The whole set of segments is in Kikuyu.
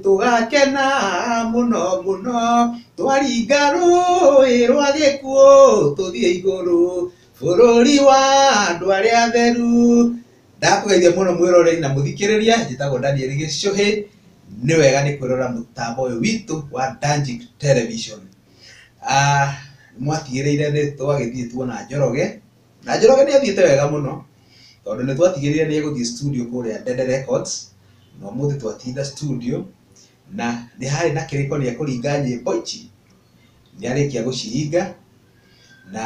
Tũgakena mũno mũno twaringa rũĩ rwa gĩkuũ tũthiĩ igũrũ bũrũri wa andũ arĩa atheru. Ndakũgeithia mũno mwĩroreri na mũthikĩrĩria, njĩtagwo Daniel Gĩcũhĩ. Nĩ wega nĩ kwĩrora mũtambo ũyũ witũ wa Danjik Television. Mwatigĩrĩire nĩ twagĩthiĩ tuona Njoroge, Na Njoroge nĩ athiĩte wega mũno tondũ nĩ twatigĩrĩire nĩ egũthiĩ studio kũrĩa Ndende Records, na ũmũthĩ twatinda studio na nĩ harĩ na kĩrĩko nĩ ekũringa nyĩmbo ici, nĩ arĩkia gũciringa na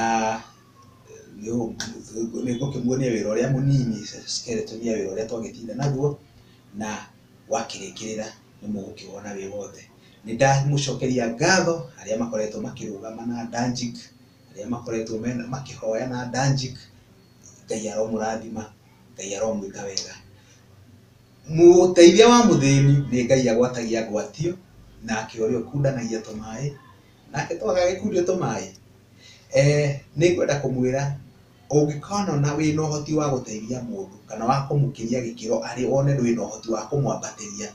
nĩ ngũkĩmuonia wĩra ũrĩa mũnini kerĩ tũthiĩ wĩra ũrĩa twagĩtinda naguo na wakĩrĩkĩrĩra nĩ mũgũkĩwona wĩ wothe. Nĩ ndamũcokeria ngatho arĩa makoretwo makĩrũgama na Danjik. arĩa makoretwo mena makĩhoya na Danjik, Ngai aromũrathima, Ngai aromwĩka wega. Mũteithia wa mũthĩni nĩ Ngai agwatagia ngwatio, nake ũrĩa ũkundanagia tũmaĩ, nake to agagĩkundio tũmaĩ. Nĩ ngwenda kũmwĩra ũngĩkonona wĩna ũhoti wa gũteithia mũndũ kana wa kũmũkĩria gĩkĩro arĩ wone wĩna ũhoti wa kũmwambatĩria,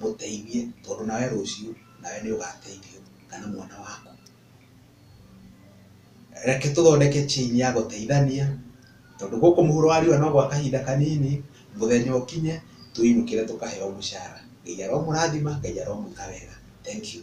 mũteithie tondũ nawe rũciũ nawe nĩ ũgateithio kana mwana waku. Reke tũthondeke chain ya gũteithania, tondũ gũkũ mũhuro wa riũa no gwa kahinda kanini, mũthenya ũkinye tũinũkĩre tũkaheo mũcara. Ngai aromũrathima, Ngai aromwĩka wega. Thengiũ.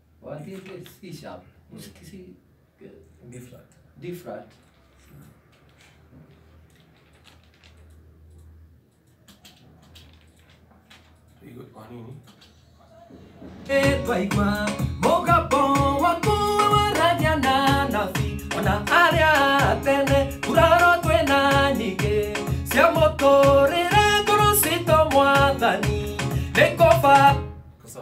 Wat is dit speciaal? Moest ik zien? Different. Different. Pretty good panini. twaigua mũgambo waku wararia na nabi ona arĩa atene nguraro twĩna nyingĩ cia mũtũrĩre ngũrũ citũ mwathani nĩ kũba Sasa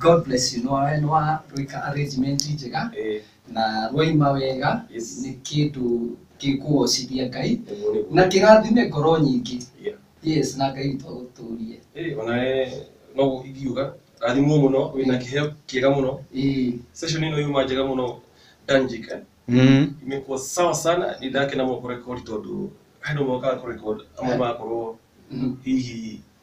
God bless you. Nwa- nwa rwika arrangement njega Eh, na rwaima wega Yes. nĩ kĩndũ gĩkũgocithia ngai ũguo nĩguo. na kĩrathime ngoro nyingĩ Yeah. yes na ngai witũ agũtũrie Eh, ona we no ingiuga rathimwo mũno wĩna kĩheo kĩega mũno Ĩĩ. session ĩno yuma njega mũno danjik eh? Mm. imekuwa sawa sana ni ndake na mwakurekodi tondu handu mwaka kurekod amwe makorwo Mhm. hihi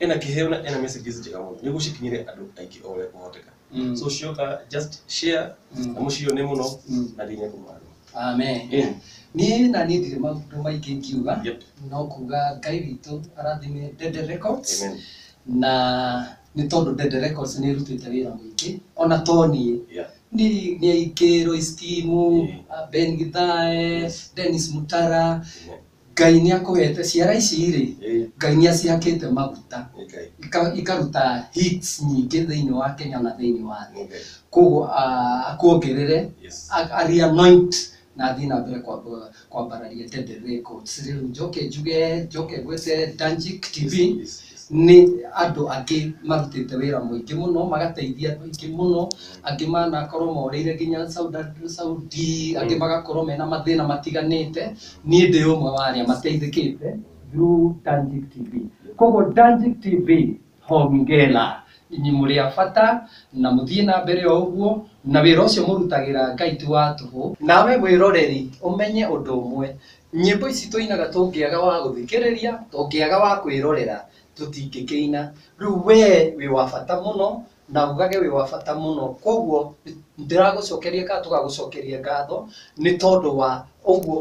ena kĩheo na ena messages njega mũno nĩ gũcikinyĩre andũ aingĩ o ũrĩa kũhoteka Mm. so cioka just share Mm. na mũcione mũno Mm. na thĩinĩ kũmwana amen Yeah. niĩ na niĩ ndirĩ maũndũ maingĩ ngiuga Yep. no kuga ngai witũ arathime dede records Amen. na nĩ tondũ dede records nĩ ĩrutĩte wĩra mũingĩ ona to niĩ Yeah. ni ni aingĩ roistimu Yeah. ben githae Yes. denis mutara Amen. Ngai nĩ akũhete ciara ici rĩ, Ĩĩ. Ngai nĩ acihakĩte maguta Okay. ika- ikaruta hits nyingĩ thĩinĩ wa Kenya na thĩinĩ wa thĩ Okay. koguo ah, akuongerere Yes. a- ari anoint na athiĩ na mbere kwamba- kwambararia Tende Records rĩu njoke njuge njoke ngwĩte Danjik TV Yes, yes, yes. nĩ andũ angĩ marutĩte wĩra mũingĩ mũno magateithia andũ aingĩ mũno angĩ manakorwo morĩire nginya Saudi, Saudi angĩ magakorwo mena mathĩna matiganĩte Niĩ ndĩ ũmwe wa arĩa mateithĩkĩte through Tangic TV. Koguo Tangic TV hongera inyi mũrĩ a bata na mũthiĩ na mbere o ũguo na wĩra ũcio mũrutagĩra Ngai ti wa tũhũ. Nawe wĩroreri ũmenye ũndũ ũmwe, nyĩmbo ici tũinaga tũngĩaga wa gũthikĩrĩria, tũngĩaga wa kwĩrorera tũtingĩkĩina. Rĩu wee wĩ wa bata mũno na ugage wĩ wa bata mũno. Kwoguo ndiragũcokeria kana tũgagũcokeria ngatho nĩ tondũ wa ũguo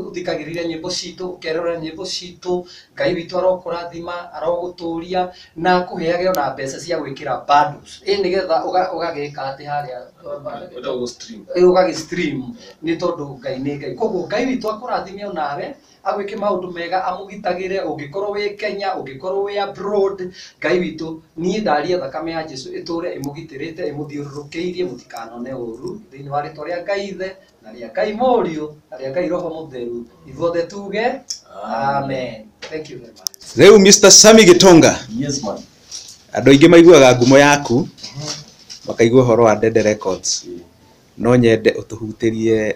ũthikagĩrĩria nyĩmbo citũ, ũkerorera nyĩmbo citũ. Ngai witũ arokũrathima, arogũtũria na akũheage ona mbeca cia gwĩkĩra bundles ĩĩ nĩ getha ũgagĩka atĩ harĩa ũgagĩ stream nĩ tondũ Ngai nĩ Ngai. Kwoguo Ngai witũ akũrathime o nawe. agwĩke maũndũ mega amũgitagĩre ũngĩkorwo wĩ Kenya ũngĩkorwo wĩ abroad Ngai witũ niĩ ndaria thakame ya Jesũ ĩtũre ĩmũgitĩrĩte ĩmũthiũrũrũkĩirie mũtikanone ũru thĩinĩ wa rĩtwa rĩa Ngai ithe na rĩa Ngai mũriũ na rĩa Ngai roho mũtheru ithuothe tuge amen thank you very much Rĩu Mr. Sammy Gĩtonga, Yes man. andũ aingĩ maiguaga ngumo yaku makaigua ũhoro wa Ndende Records, no nyende ũtũhutĩrie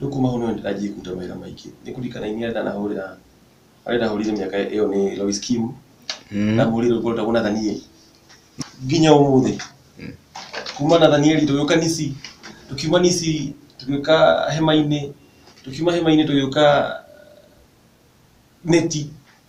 Rĩu kuma hau nĩwe ndĩranjia kũruta mawĩra maingĩ. Nĩ kũrikana iria ndanahũrĩra, harĩa ndahũrĩire mĩaka ĩyo nĩ Lois Kim, ndahũrĩire rwĩmbo rwĩtagwo Nathanieli. Nginya ũmũthĩ, kuma Nathanieli tũgĩũka Nissi, tũkiuma Nissi tũgĩũka Hema-inĩ, tũkiuma Hema-inĩ tũgĩũka Neti.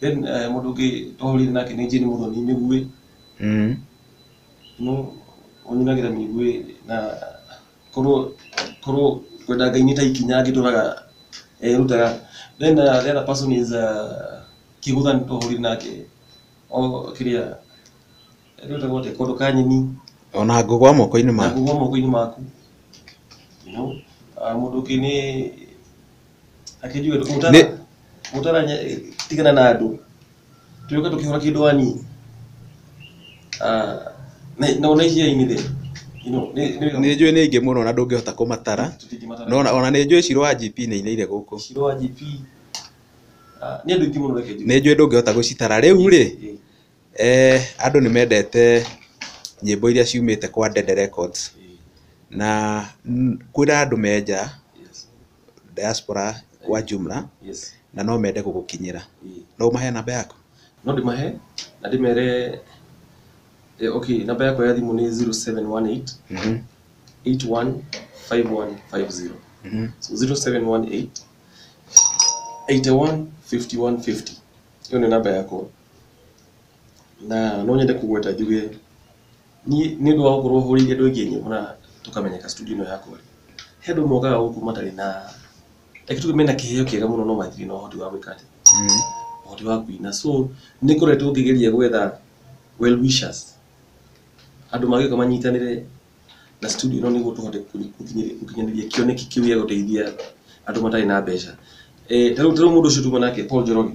Then uh, mũndũ ũngĩ twahũrire nake nĩ Jane Muthoni Mĩguĩ mm. no ũnyinagĩra Mĩguĩ na korwo korwo kwenda Ngai nĩ ta ikinya angĩtũraga erutaga then uh, the other person is uh, Kĩgũthani twahũrire nake o kĩrĩa erutaga atĩ kondo ka nyeni ona ngũgwa moko-inĩ na maku ngũgwa moko-inĩ maku you know, uh, mũndũ ũngĩ nĩ akĩnjugĩra Nĩ- kũtara kũtara nye- tigana na andũ tũgĩũka tũkĩhũra kĩndũ wani Ah, nĩ- na ona icio inĩ thĩ You know, nĩ- nĩ- nĩ njũĩ nĩ aingĩ mũno na ndũngĩhota kũmatara tũtingĩmatara. no ona- ona nĩ njũĩ ciro wa GP nĩ inĩire gũkũ Ciro wa GP Ah, nĩ andũ aingĩ mũno reke njuge. nĩ njũĩ ndũngĩhota gũcitara rĩu rĩ Ĩ, eh, andũ nĩ mendete nyĩmbo iria ciumĩte kwa Dede Records ĩ, na mm, kwĩna andũ menja yes. diaspora kwa jumla yes na no mende gũgũkinyĩra Ĩĩ. no ũmahe namba yaku no ndĩmahe na ndĩmere eh, okay namba yakwa ya thimũ nĩ 0718 Mhm, 815150 mhm. so 0718 815150 ĩyo nĩ namba yakwa na no nyende kũgweta njuge niĩ nĩ ũndũ wa gũkorwo hũrĩire andũ aingĩ nyĩmbo na tũkamenyeka studio ĩno yakwa-rĩ, he andũ mokaga gũkũ matarĩ na, reke tuge mena kĩheo kĩega mũno no matirĩ na ũhoti wa gwĩka atĩa, ũhoti wa kũina. So nĩ ngoretwo ngĩgeria gwetha well wishers, andũ mangĩũka manyitanĩre na studio ĩno nĩguo tũhote gũkinyanĩria kĩoneki kĩu gĩa gũteithia andũ matarĩ na mbeca. Ta rĩu mũndũ ũcio tuuma nake Paul Njoroge,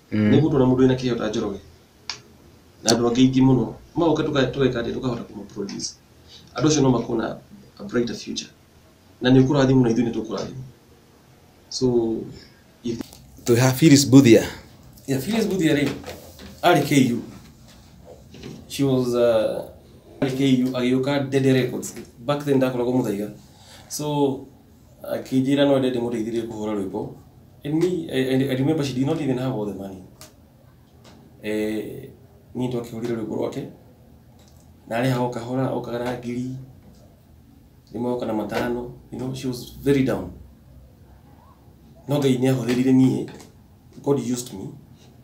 Nĩ ũgũtwara mũndũ wĩna kĩheo ta Njoroge na andũ angĩ aingĩ mũno, magoka tũgeka atĩa tũkahota kũma produce. Andũ acio no makorwo na a brighter future na nĩ ũkũrathimwo na ithuĩ nĩ tũkũrathimwo. So if Twĩ ha Phyllis Budhia. Yeah, Phyllis Budhia rĩ arĩ KU. She was uh, arĩ KU agĩũka Dede Records. Back then ndakoragwo Muthaiga. So akĩnjĩra no ende ndĩmũteithĩrĩrie kũhũra rwĩmbo and me I, I, I remember she did not even have all the money eh, niĩ twakĩhũrire rwĩmbo rwake narĩha o kahora o kahora ngiri rĩmwe oka na matano you know, she was very down no ngai nĩ ahũthĩrire niĩ god used me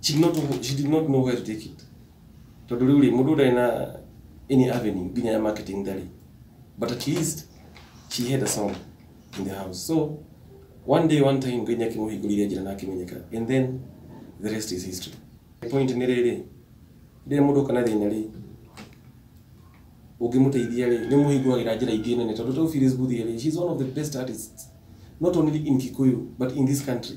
She did not, know- she did not know where to take it. Tondũ rĩu rĩ, mũndũ ndarĩ na any avenue nginya ya marketing ndarĩ. But at least she had a song in the house. So one day one time Ngai nĩakĩmũhingũrire njĩra na akĩmenyeka. And then the rest is history. The point nĩ rĩrĩ, rĩrĩa mũndũ oka na thĩna rĩ, ũngĩmũteithia rĩ, nĩ mũhingũragĩra njĩra ingĩ nene tondũ ta Phyllis Budhia rĩ, she's one of the best artists not only in Kikuyu but in this country.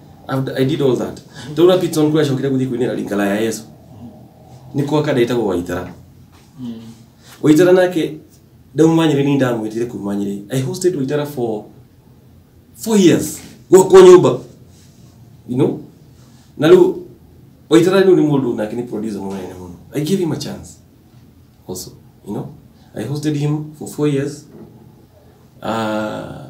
I've- I did all that. Ndona Peterson kũrĩa acokire gũthiĩ kũinĩra ringala ya Yesu. Nĩ kwa kada ĩtagwo Waithera. Waithera nake ndauma Nyeri nĩ ndamwĩtire kuma Nyeri. I hosted Waithera for four years gwakwa nyũmba. You know? Na rĩu Waithera rĩu nĩ mũndũ nake nĩ producer mũnene mũno. I gave him a chance also, you know? I hosted him for four years. Uh,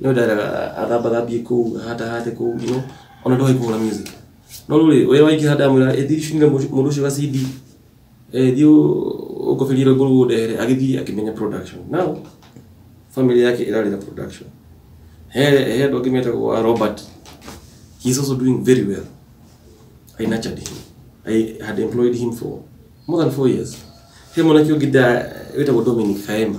no ndara athambathambie kuu hatahate kuu you know ona ndoĩ kũhũra music no rĩu rĩ ũrĩa waingĩra ndamwĩra ĩ thiĩ cunge mũndũ mũndũ ũcio ga CD ĩ thiĩ ũ- ũngobĩrie rwĩmbo rũu ũndehere agĩthiĩ akĩmenya production now family yake ĩrarĩ na production he he andũ angĩ metagwo a Robert he is also doing very well I nurtured him I had employed him for more than four years he mwanake ũngĩ nda wĩtagwo Dominic Kaema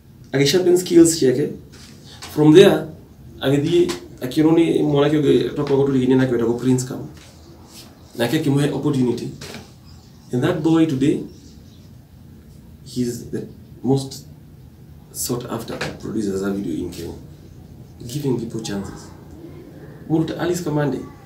agĩsharpen skills ciake from there agĩthiĩ akĩrwo nĩ mwanake ũngĩ twakoragwo tũrigainie nake wetagwo prince kam nake akĩmũhe opportunity and that boy today he's the most sought after producer za video in kenya giving people chances mũndũ ta alice kamande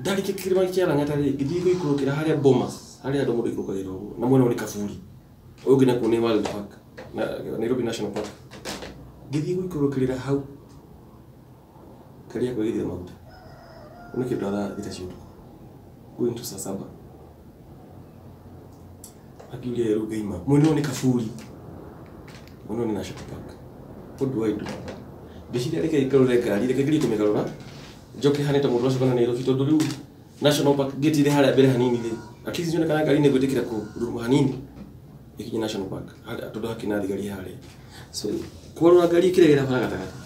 ndarĩkia kĩrĩma kĩa lang'ata rĩ ngĩthiĩ gũikũrũkĩra harĩa bomas harĩa andũ mũndũ ikũrũkagĩra ũguo na mwena ũrĩ kaburi ũyũ ũngĩ nakuo nĩ wild park na nairobi national park ngĩthiĩ gũikũrũkĩrĩra hau karia kwagithia maguta nĩ kĩndũ thaa thita cia ũtukũ going to saa saba akiuria rĩu ngaima mwena ũyũ nĩ kaburi mwena ũyũ nĩ national park what do I do ngĩciria reke ngarũre ngari reke ngerie kũmĩgarũra njoke hane ta mũndũ wacukana Nairobi tondũ rĩu national park gate irĩ harĩa mbere hanini rĩ at least nyone kana ngari nĩ gwĩtĩkĩra kũruma hanini ĩkinye national park harĩa- tondũ hakĩrĩ na thigari harĩa so kwarũra ngari ĩkĩregera bara gatagatĩ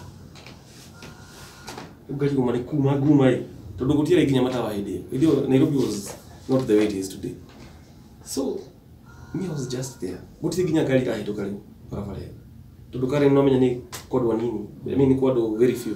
Rĩu ngari kuma nĩ kuma nguma ĩ tondũ gũtiarĩ nginya matawa hĩndĩ ĩyo hĩndĩ ĩyo Nairobi was not the way it is today so me I was just there gũtirĩ nginya ngari irahĩtũka rĩu barabara ĩyo tondũ karen no menya nĩ kwa andũ anini I mean nĩ kwa andũ very few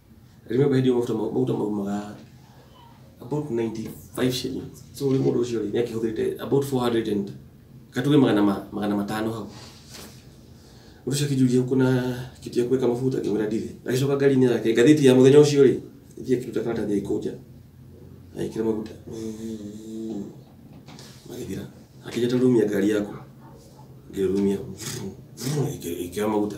rĩmwe mbendi yo mafuta maguta mau maga about 95 shillings so rĩ mũndũ ũcio rĩ nĩakĩhũthĩrĩte about 400 and katuge magana ma- magana matano hau mũndũ ũcio akĩnjũria kuna kitu ya kuweka mafuta ngĩmwĩra ndirĩ agĩcoka ngari-inĩ yake ngathĩti ya mũthenya ũcio rĩ ithiĩ akĩruta karatathi aikũnja agĩkĩra maguta magĩthira akĩnja ta rumia ngari yaku ngĩrumia ikĩra maguta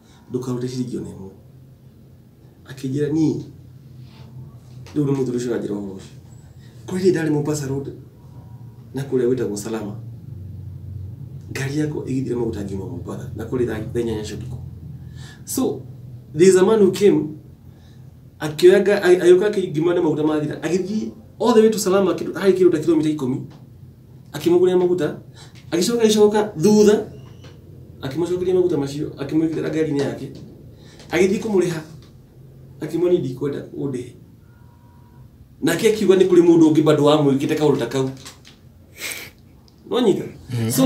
ndũkarute ciringi ona ĩmwe akĩnjĩra niĩ rĩu nĩ mũthuri ũcio ũranjĩra ũhoro ũcio kũrĩ hĩndĩ ndarĩ Mombasa Road na kũrĩa gwĩtagwo Salama ngari yakwa ĩgĩthira maguta ngiuma Mombasa na kũrĩ thaa thaa inyanya cia ũtukũ so there is a man who came akĩoya nga- a- agĩũka akĩngima na maguta mathira agĩthiĩ all the way to Salama kĩndũ- harĩ kĩndũ ta kilomita ikũmi akĩmũgũrĩra maguta agĩcoka agĩcoka thutha akĩmũcokeria maguta macio akĩmwĩkĩrĩra ngari-inĩ yake agĩthiĩ kũmũrĩha akĩmwoni ndikwenda ũndĩhe nake akiuga nĩ kũrĩ mũndũ ũngĩ bado wamwĩkĩte kaũndũ ta kau nonyita so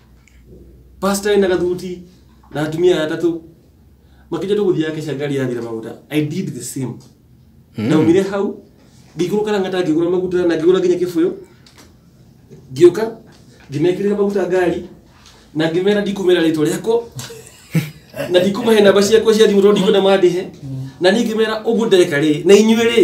pastor na gathuti na atumia atatu makija tu guthia kesha ngari ya thira maguta i did the same ndaumire hau ngĩikũrũ kana ngata ngĩgũra maguta na ngĩgũra nginya kĩbũyũ ngĩũka ngĩmekĩrĩra maguta ngari na ngĩmera ndikumera rĩtwa rĩakwa na ndikumahe namba ciakwa cia thimũ tondũ ndikwenda mandĩhe na niĩ ngĩmera ũguo ndeka rĩ na inyuĩ rĩ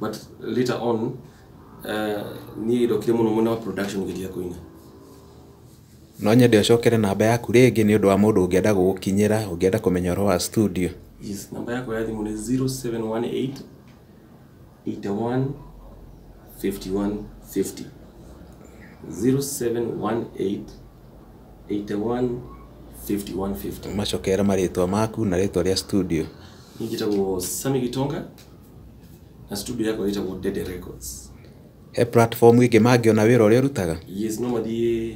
But later on, uh, niä ndokire må no mwena wa production ngä ria kå ina no nyende ũcokere namba yaku rĩngĩ nĩ ũndũ wa mũndũ ũngĩenda gũgũkinyĩra ũngĩenda kũmenya ũhoro wa studio yes namba yakwa ya thimũ nĩ 0718 81 51 50 0718 81 51 50 macokere marĩtwa maku na rĩtwa rĩa studio niĩ njĩtagwo sami gitonga na studio yako ĩtagwo Dede Records he platform ĩngĩ mangĩona wĩra ũrĩa ũrutaga yes no mathiĩ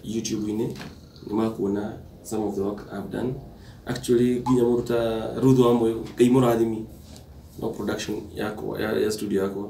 YouTube-inĩ nĩ makuona some of the work I've done actually nginya mũruta Ruth wa Moyo ngai mũrathimi no production yakwa ya, ya studio yakwa